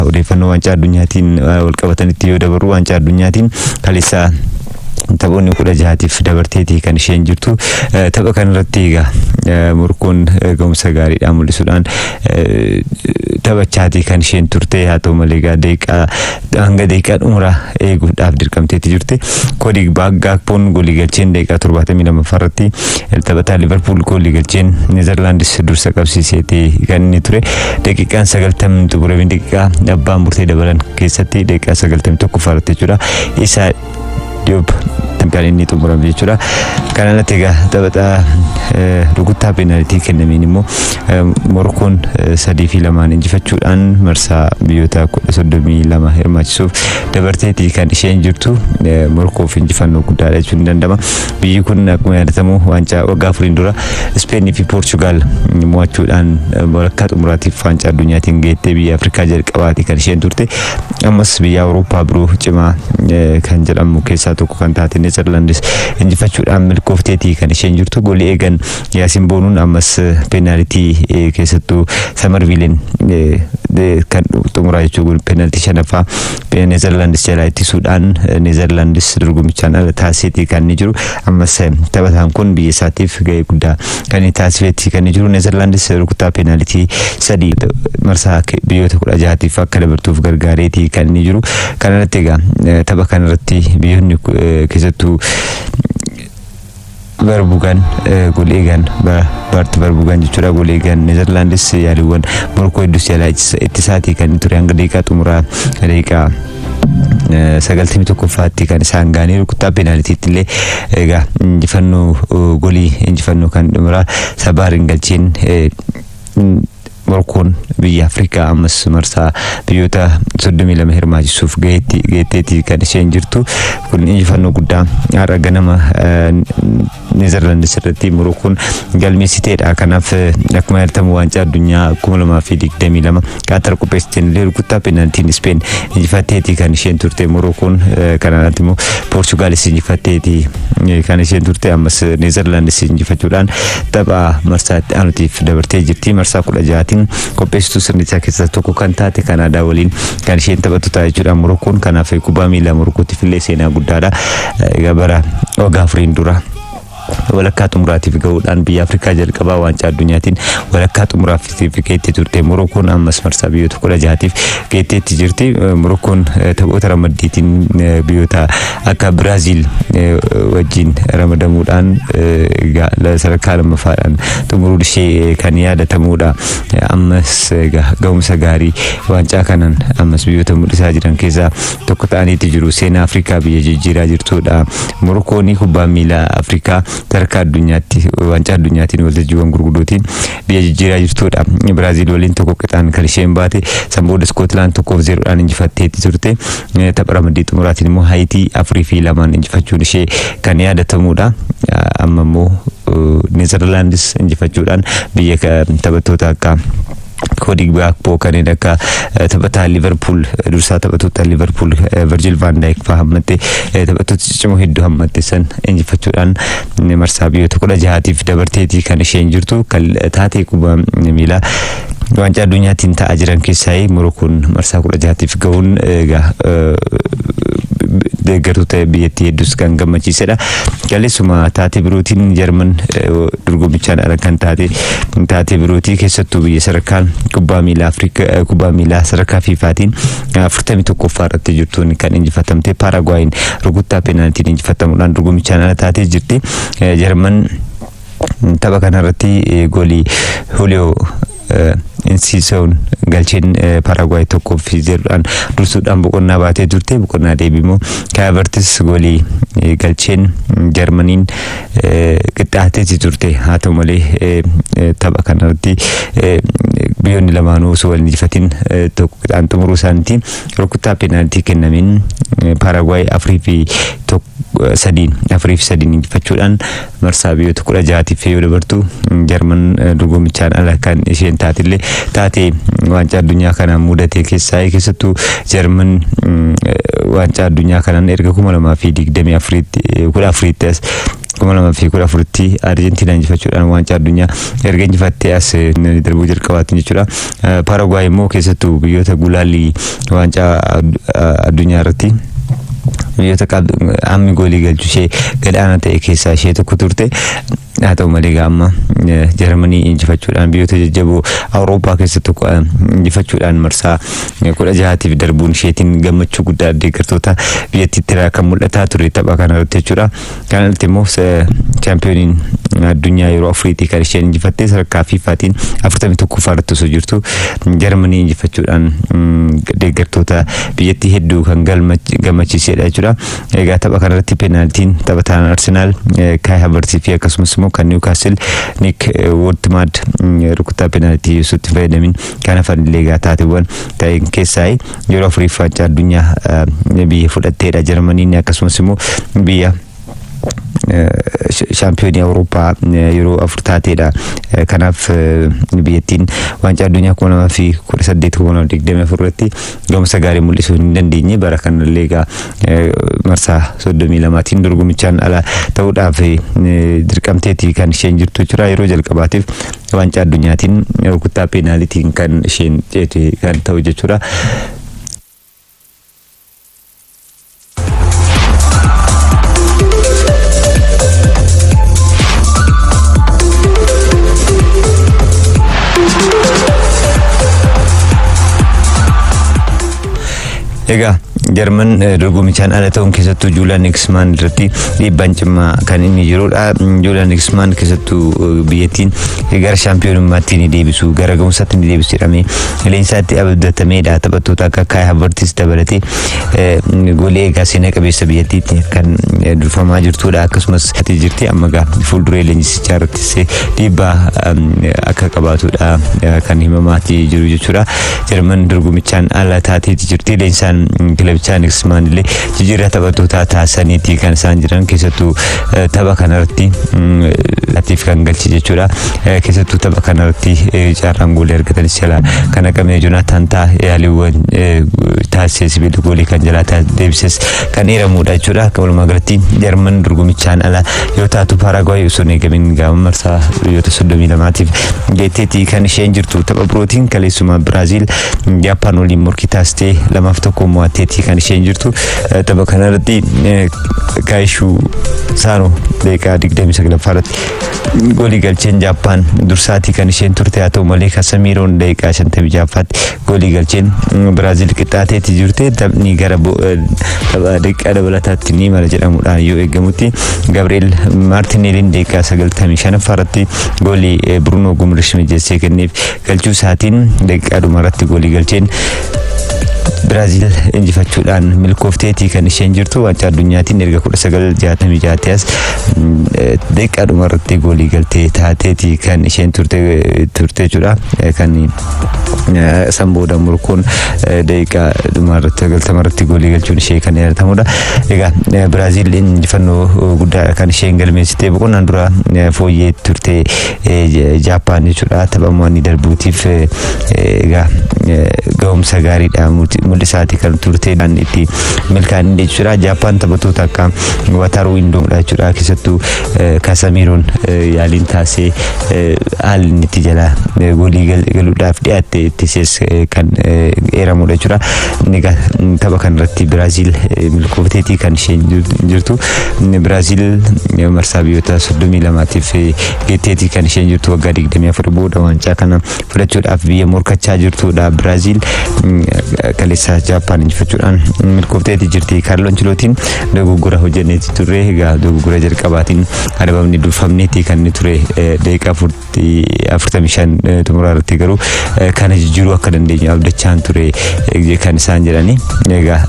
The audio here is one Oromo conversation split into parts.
Odeeffannoo waancaa addunyaatiin walqabatanitti yoo dabarru waancaa addunyaatiin kaleessa taphoonni kudha jahaatiif dabarteeti kan isheen jirtu tapha kanarratti egaa morkoon gahumsa gaariidhaan mul'isuudhaan taphachaati kan isheen turte haa ta'u malee egaa deeqaa hanga deeqaa dhumuraa eeguudhaaf dirqamteetti jirti koodi baaggaakpoon golii galcheen deeqaa torbaatamii lammaffaa irratti Taphataa Liverpool goolii galcheen Neezerlaandis dursa qabsiiseeti kan inni ture. Daqiiqaan sagaltamni xumuramee daqiiqaa abbaan murtee dabalan keessatti daqiiqaa sagaltamii tokko faarratti jechuudha. Isaa Diop kan inni xumurame jechuudha. Kan alatti egaa taphataa rukuttaa peenaalitii kennameen immoo Morkoon sadii fi lamaan injifachuudhaan marsaa biyyoota kudha soddomii lama hirmaachisuuf dabarteetii kan isheen jirtu Morkoof injifannoo guddaadha jechuun ni danda'ama. Biyyi kun akkuma yaadatamu waancaa waggaa afuriin dura Ispeenii fi Poorchugaal mo'achuudhaan walakkaa xumuraatiif waancaa addunyaatiin geettee biyya Afrikaa jalqabaati kan isheen turte. Ammas biyya Awurooppaa biroo cimaa eh, kan jedhamu keessaa tokko kan taate Neezerlaandis injifachuudhaan milkoofteeti kan isheen jirtu. Goolii eegan Yaasin Boonuun ammas eh, peenaalitii eh, keessattuu Samarviiliin eh, de- kan xumuraa jechuun peenaalitii shanaffaa Neezerlaandis jalaa ittisuudhaan Neezerlaandis dorgommichaan ala taasiseeti kan inni jiru. Ammas taphataan kun biyya isaatiif gahee guddaa kan inni taasiseeti kan inni jiru. Neezerlaandis rukuttaa peenaalitii sadii marsaa biyyoota kudha jahaatiif akka dabartuuf gargaareeti kan inni jiru. Kanarratti egaa tapha kanarratti biyyoonni keessattuu Barbugan Gul'eegan Bart Barbugan jechuudha Gul'eegan Neezerlaandis yaaliiwwan morkoo hedduu si'a ittisaatii kan ture hanga daqiiqaa xumuraa daqiiqaa sagaltamii tokkoffaatti kan isaan gaanii rukuttaa peenaalitiitti illee egaa injifannoo golii injifannoo kan xumuraa sabaa ringalchiin Morkoon biyya Afrikaa ammas marsaa biyyoota 32 hirmaachisuuf gaheetti geetteetti kan isheen jirtu kun injifannoo guddaa har'a ganama Neezerlaandis irratti Morookoon galmeessiteedha. Kanaaf akkuma yaadatamu waancaa addunyaa 2022 Qaatar qopheessiteen illee rukuttaa peenaaltiin Ispeen injifatteeti kan isheen turte Morookoon kanarratti immoo Poorchugaalis injifatteeti kan isheen turte ammas Neezerlaandis injifachuudhaan tapha marsaa itti aanutiif dabartee jirti. Marsaa kudha ja'aatiin qopheessituu sirnichaa keessaa tokko kan taate Kanaadaa waliin kan isheen taphattu ta'a jechuudha. Morokkoon kanaaf kubbaa miilaa Morokkootiif illee seenaa guddaadha. Egaa bara waggaa afuriin dura walakkaa xumuraatiif gahuudhaan biyya Afrikaa jalqabaa waancaa addunyaatiin walakkaa xumuraaf Itti geettee turte. Morookoon ammas marsaa biyyoota kudha jahaatiif geetteetti jirti. Morookoon taphoota ramaddiitiin biyyoota akka Biraaziil wajjin ramadamuudhaan sadarkaa lammaffaadhaan xumuruun ishee kan yaadatamuudha. Ammas ga'umsa gaarii waancaa kanaan ammas biyyoota mul'isaa jiran keessaa tokko ta'aniiti jiru. Seenaa Afrikaa biyya jijjiiraa jirtuudha. Morookoon kubbaan miilaa Afrikaa sadarkaa addunyaatti waancaa addunyaatiin waltajjiiwwan gurguddootiin biyya jijjiiraa jirtudha. Biraaziil waliin tokko qixaan kan isheen baate san booda Iskootilaand tokkoof zeeroodhaan injifatteetti turte. Eh, Tapha ramaddii xumuraatiin immoo Haayitii afurii fi lamaan injifachuun ishee kan yaadatamudha. Ah, Amma immoo eh, Neezerlaandis injifachuudhaan biyya ka- taphattoota akka Koodi Gaakpoo kanneen akka eh, taphataa Liverpool eh, dursaa taphattoota Liverpool eh, Virgil van Dijk fa'aa hammatte eh, taphattoota ciccimoo hedduu hammatte san injifachuudhaan marsaa biyyoota kudha jahaatiif dabarteeti kan isheen jirtu kan taatee kubbaa miilaa waancaa addunyaatiin ta'aa jiran keessaa Morookoon marsaa kudha jahaatiif gahuun egaa deeggartoota biyyattii hedduus kan gammachiisedha. Kaleessuma taatee birootiin Jarman dorgommichaan ala kan taate taatee birootii keessattuu biyya sadarkaan kubbaa miilaa Afrikaa kubbaa miilaa sadarkaa fiifaatiin afurtamii tokkoffaa irratti jirtuun kan injifatamte Paaragwaayin rukuttaa peenaaltiin injifatamuudhaan dorgommichaan ala taatee jirti. Eh, Jarman tapha kanarratti eh, goolii Huliyoo Insiisoon galcheen eh, Paaragwaay tokkoo fi zeeroodhaan dursuudhaan boqonnaa baatee turte boqonnaa deebimoo Kaayavartis goolii eh, galcheen Jarmaniin qixxaateeti turte haa ta'u malee tapha kanarratti biyyoonni lamaanuu osoo wal injifatin tokko qixaan xumuruu isaaniitiin rukuttaa peenaaltii kennameen paaragwaay afurii fi sadiin afurii fi sadiin injifachuudhaan marsaa biyyoota kudha jahaatiif yoo dabartu jarman dorgommichaan ala kan isheen taatillee taatee waancaa addunyaa kanaan mudatee keessaa keessattuu Jarman waancaa addunyaa kanaan erga kuma lamaa fi digdamii afuriitti kudha afuriitti as kuma lamaa fi kudha afuritti Arjentiinaa injifachuudhaan waancaa addunyaa erga injifattee as darbuu jalqabaatti jechuudha. Paaragwaay immoo keessattuu biyyoota gulaallii waancaa addunyaa irratti biyyoota ammi goolii galchu ishee gad aanaa ta'e keessaa ishee tokko turte. Haa ta'u malee egaa amma eh, Jarmanii injifachuudhaan biyyoota jajjaboo Awurooppaa keessa tokko eh, injifachuudhaan marsaa eh, kudha jahaatiif darbuun isheetiin gammachuu guddaa deeggartoota biyyattiitti irraa kan mul'ataa ture tapha kana irratti jechuudha. Kana irratti immoo eh, chaampiyooniin addunyaa yeroo afuriitii kan isheen injifattee sadarkaa fiifaatiin afurtamii tokkoffaa irratti osoo jirtu Jarmanii injifachuudhaan mm, deeggartoota biyyattii hedduu kan galma- gammachiisedha jechuudha. Egaa tapha kanarratti peenaaltiin taphataan Arsenaal Kaay Havertz fi akkasumas immoo kan Niwkaasil Niik Woodmaad rukuttaa peenaaltii osoo itti fayyadamin kan hafan illee egaa taateewwan ta'een keessaa yeroo afuriif waancaa addunyaa biyya fudhatteedha Jarmaniin akkasumas immoo biyya shaampiyoonii awurooppaa yeroo afur taateedha kanaaf biyyattiin waancaa addunyaa kuma lamaa fi kudha saddeet kuma lamaa fi digdamii afur irratti gahumsa gaarii mul'isuu hin dandeenye bara kanallee egaa eh, marsaa soddomii lamaatiin dorgomichaan ala ta'uudhaaf eh, dirqamteeti kan isheen jirtu jechuudha yeroo jalqabaatiif waancaa addunyaatiin eh, rukuttaa peenaalitiin kan isheen ceete kan ta'u jechuudha. Egaa Jarman dorgomichaan ala ta'uun keessattuu Juulaan Niksmaan irratti dhiibbaan cimaa kan inni jirudha. Juulaan Niksmaan keessattuu biyyattiin gara shaampiyoonummaatti ni deebisu gara ga'umsaatti ni deebisu jedhamee leensaatti abdatameedha taphattoota akka Kaay Havartis dabalatee golee egaa seenaa qabeessa biyyattiitti kan durfamaa jirtudha akkasumas ati jirti amma egaa fuulduree leenjisichaa irrattis dhiibbaa akka qabaatudha kan himamaati jiru jechuudha jarman dorgomichaan ala taateeti jirti leensaan kilabichaa niksmaan illee jijjiirraa taphattootaa taasisaniiti kan isaan jiran keessattuu tapha kanarratti atiif kan galchi jechuudha Eh, keessattuu tapha kanarratti eh, carraan goolii argatanis jalaa kan haqame Jonaataan ta'a yaaliiwwan eh, taasisee sibiila goolii kan jalaa taas- deebises kan eeramudha jechuudha. Akka walumaa galatti Jarman dorgomichaan ala yoo taatu Paaraaguwaay osoo hin eegamin gaama marsaa biyyoota 32tiif geetteetti kan isheen jirtu tapha birootiin kaleessuma Biraaziil Jaappaan waliin morkii taasistee lamaaf tokko mo'atteetti kan isheen jirtu. Eh, Tapha kanarratti eh, Kaayishuu Saanoo daqiiqaa 29 irratti Goolii galcheen Jaappaan dursaatii kan isheen turte haa ta'u malee Kasamiiroon daqiiqaa 56ffaatti goolii galcheen Biraazil qixxaateetti jirte taphni gara daqiiqaa dabalataatti ni mala jedhamuudhaan yoo eegamutti Gabriel Maartineeliin daqiiqaa 95ffaa irratti goolii Bruno Gumrish mijeessee kenneef galchuu isaatiin daqiiqaa dhumarratti goolii galcheen Biraaziil injifachuudhaan milkoofteetii kan isheen jirtu waancaa addunyaatiin erga 1966 as daqiiqaa dhuma irratti goolii galtee taateeti kan isheen turte jechuudha. Kan san booda Morokoon daqiiqaa dhuma irratti galtama irratti goolii galchuun ishee kan yaadatamudha. Egaa Biraaziil injifannoo guddaa kan isheen galmeessitee boqonnaan dura fooyyee turte Jaappaan jechuudha tapha mo'anii darbuutiif egaa ga'umsa gaariidha mul'isaati kan turte kan itti milkaa'an jechuudha. Jaappaan taphattoota akka Wataruu Indoomdha jechuudha keessattuu Kasamiiroon yaaliin taasee haalli inni itti jala goolii galuudhaaf dhiyaatte itti sees kan eeramudha jechuudha. Egaa tapha kanarratti Biraaziil milkoofteetii kan isheen jirtu. Biraazil marsaa biyyoota 32tiif geetteetii kan isheen jirtu waggaa 24 booda waancaa kana fudhachuudhaaf biyya morkachaa jirtudha. Biraazil kaleessa Jaappaan injifachuudhaan milkoofteetii jirti. Kaarloo Anchilootiin dogoggora hojjenneetii turre egaa dogoggora jalqabaatiin adabamni durfamneetii kan inni ture deeqaa afurtamii shan xumuraa irratti garuu kana jijjiiruu akka dandeenyu abdachaan ture kan isaan jedhani egaa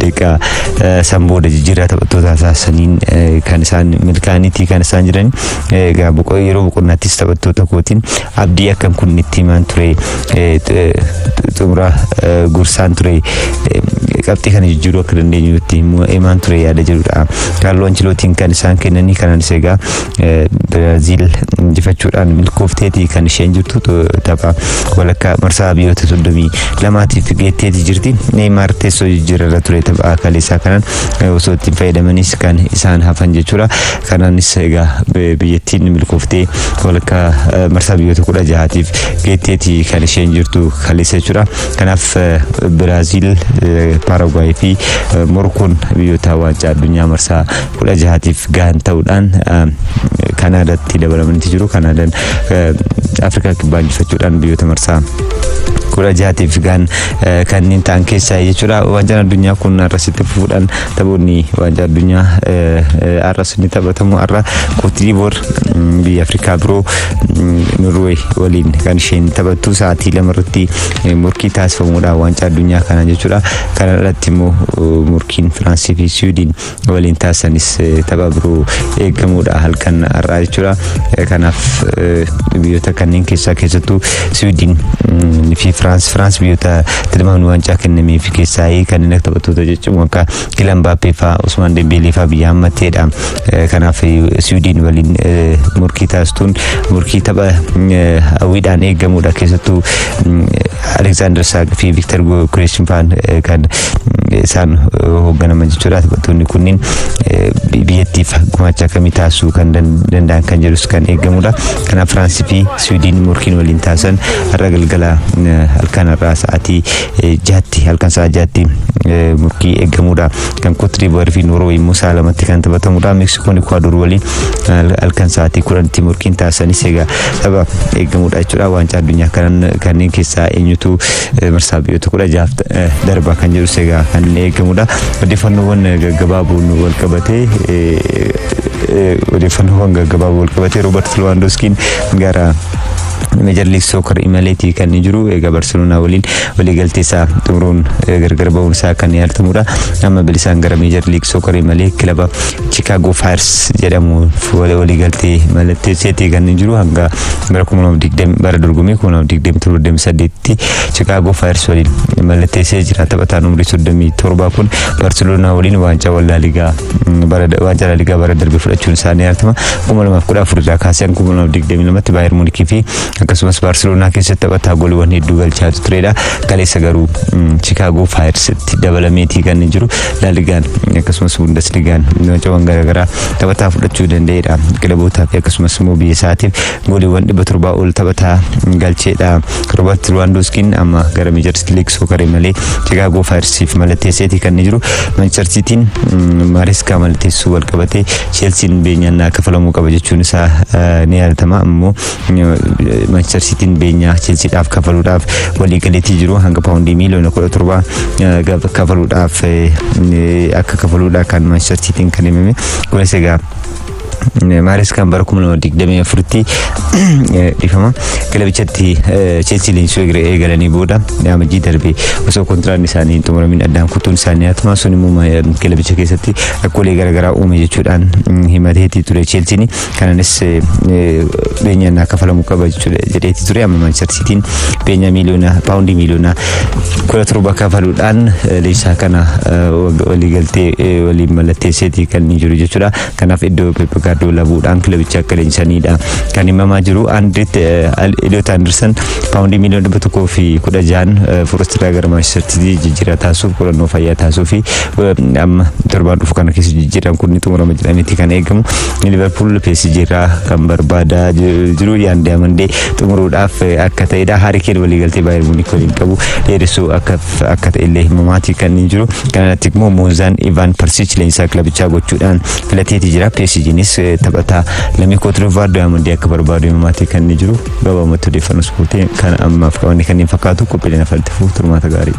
deeqa san booda jijjiirraa taphattoota taasisaniin kan isaan milkaa'aniiti kan isaan jedhani egaa yeroo boqonnaattis taphattoota kootiin abdii akkan kun itti himaan ture xumura gursaan ture qabxii kana jijjiiruu akka dandeenyu itti himaan ture yaada jedhudha kaalloo anchilootiin kan isaan kennanii kanaanis egaa Biraaziil injifachuudhaan milkoofteeti kan isheen jirtu tapha walakkaa marsaa biyyoota 32tiif geetteeti jirti. Neeymaar teessoo jijjiirarra ture tapha kaleessaa kanaan osoo ittiin fayyadamanis kan isaan hafan jechuudha. Kanaanis egaa biyyattiin milkooftee walakkaa marsaa biyyoota 16tiif geetteeti kan isheen jirtu kaleessa jechuudha. Kanaaf Biraaziil, Paaragwaay fi Morkoon biyyoota waancaa addunyaa marsaa 16tiif gahan ta'uudhaan Kanaadaatti dabalamanitti jiru. Kanaadaan Afrikaa Kibbaa injifachuudhaan biyyoota marsaa kudha jaatiif gahan kanneen ta'an keessaa jechuudha. Waancaan addunyaa kun har'as itti fufuudhaan taphoonni waancaa addunyaa har'as ni taphatamu. Har'a Kootidiivoor biyya Afrikaa biroo Norway waliin kan isheen taphattu sa'aatii lama irratti morkii taasifamuudha waancaa addunyaa kana jechuudha. Kana irratti immoo morkiin Firaansii fi Siwiidin waliin taasisanis tapha biroo eegamuudha halkan har'aa jechuudha. Kanaaf biyyoota kanneen keessaa keessattuu Siwiidin fi Firaans Firaans biyyoota tilmaamni waancaa kennameef keessaa kanneen akka taphattoota jechuun akka Kilan Baappee fa'aa Usmaan Dembeelee fa'aa biyya hammatteedha. Kanaaf Siwiidin waliin morkii taasistuun morkii tapha hawwiidhaan eegamuudha keessattuu Alexander Saak fi Victor Goyokreeshin faan kan isaan hoogganaman jechuudha. Taphattoonni kunniin biyyattiif gumaacha akkamii taasisuu kan danda'an kan jedhus kan eegamudha. Kanaaf Firaansii fi Siwiidiin morkiin waliin taasisan har'a galgala halkan har'aa sa'aatii jaatti halkan sa'a jaatti morkii eegamudha. Kan Kootiriivuwaarii fi Noorweey immoo sa'a lamatti kan taphatamudha. Meeksikoon Ikuwaadoor waliin halkan sa'aatii kudhanitti morkiin taasisanis egaa tapha eegamudha jechuudha waancaa addunyaa kanneen keessaa eenyutu marsaa biyyoota kudha jaaf darba kan jedhus egaa kan eegamudha odeeffannoowwan gaggabaaboon wal qabatee odeeffannoowwan gaggabaaboo wal qabatee roobert lewandowskiin gara meejar liig sookar imaleetii kan jiru egaa barseloonaa waliin waliigaltee isaa xumuruun gargar ba'uun isaa kan yaaltamudha amma bilisaan gara meejar liig sookar imalee kilaba Chicago Fires jedhamu waliigaltee mallatteesseetii kan jiru hanga bara 2020 bara dorgommii 2027-28tti Chicago Fires waliin mallatteessee jira. Taphataan umrii 37 kun Barcelona waliin waancaa wallaaligaa bara waancaa laaligaa bara darbe fudhachuun isaanii yaadatamaa 2014 irraa kaasee 2022tti Baayern Munikii fi akkasumas Baarseloonaa keessatti taphataa gooliiwwan hedduu galchaa turedha. Kaleessa garuu Chikaagoo Faayirsitti dabalameetii kan jiru Laaligaan akkasumas Bundesligaan wancawwan garaagaraa taphataa fudhachuu danda'edha. Kilabootaa fi akkasumas immoo biyya isaatiif gooliiwwan dhibba torbaa ol taphataa galcheedha. Roobert Lewandowskiin amma gara Meejarsi Liig Sookaree malee Chikaagoo Faayirsiif mallatteesseetii kan jiru. Manchester Siitiin Maareskaa mallatteessuu wal qabatee Cheelsiin beenyaan kaffalamuu qaba jechuun isaa ni yaadatama. Ammoo Manchester Sitiin beenyaa Chelsiidhaaf kafaluudhaaf waliigaleetii jiru hanga paawundii miiliyoona kudha torba kafaluudhaaf akka kafaluudha kan Manchester Sitiin kan himame. Kunis egaa Maaris kan bara kuma lama digdamii afuritti dhifama kilabichatti Chelsea leenjisuu eegalanii booda amajjii darbe osoo kontiraan isaanii hin xumuramin addaan kutuun isaanii hatuma sun immoo kilabicha keessatti rakkoolee garaagaraa uume jechuudhaan himateetii ture Chelsiin Kananis beenyaan naa kafalamu qaba jechuudha jedheeti ture amma Manchester Sitiin beenyaa miiliyoona paawundii miiliyoona kudha torba kafaluudhaan leenjisaa kana waliigaltee waliin mallatteesseeti kan jiru jechuudha. Kanaaf iddoo Pep Gaardiyoola bu'uudhaan kilabicha akka leenjisanidha kan himamaa jiru. Andireet Eliyoot Andirsan paawundii miiliyoona dhibba tokkoo fi kudha jahan Foorestiraa gara Manchester Sitii jijjiiraa taasisuuf qorannoo fayyaa taasisuu fi amma torbaan dhufu kana keessa jijjiiraan kun ni xumurama jedhameeti kan eegamu. Liverpool PSG irraa kan barbaadaa jiru yaan diamandee xumuruudhaaf akka ta'edha. Harry Kane waliigaltee Bayern Munich waliin qabu dheeressuu akka akka ta'e illee himamaati kan hin jiru. Kanarratti immoo Moozaan Ivan Persic leenjisaa kilabichaa gochuudhaan filateeti jira. PSGnis taphataa lammii Kootidivaar diamandee akka barbaadu himamaati kan hin jiru. Gabaabumatti odeeffannoo ispoortii kan ammaaf qabanne kanneen fakkaatu qophiileen afaltifuuf turmaata gaarii.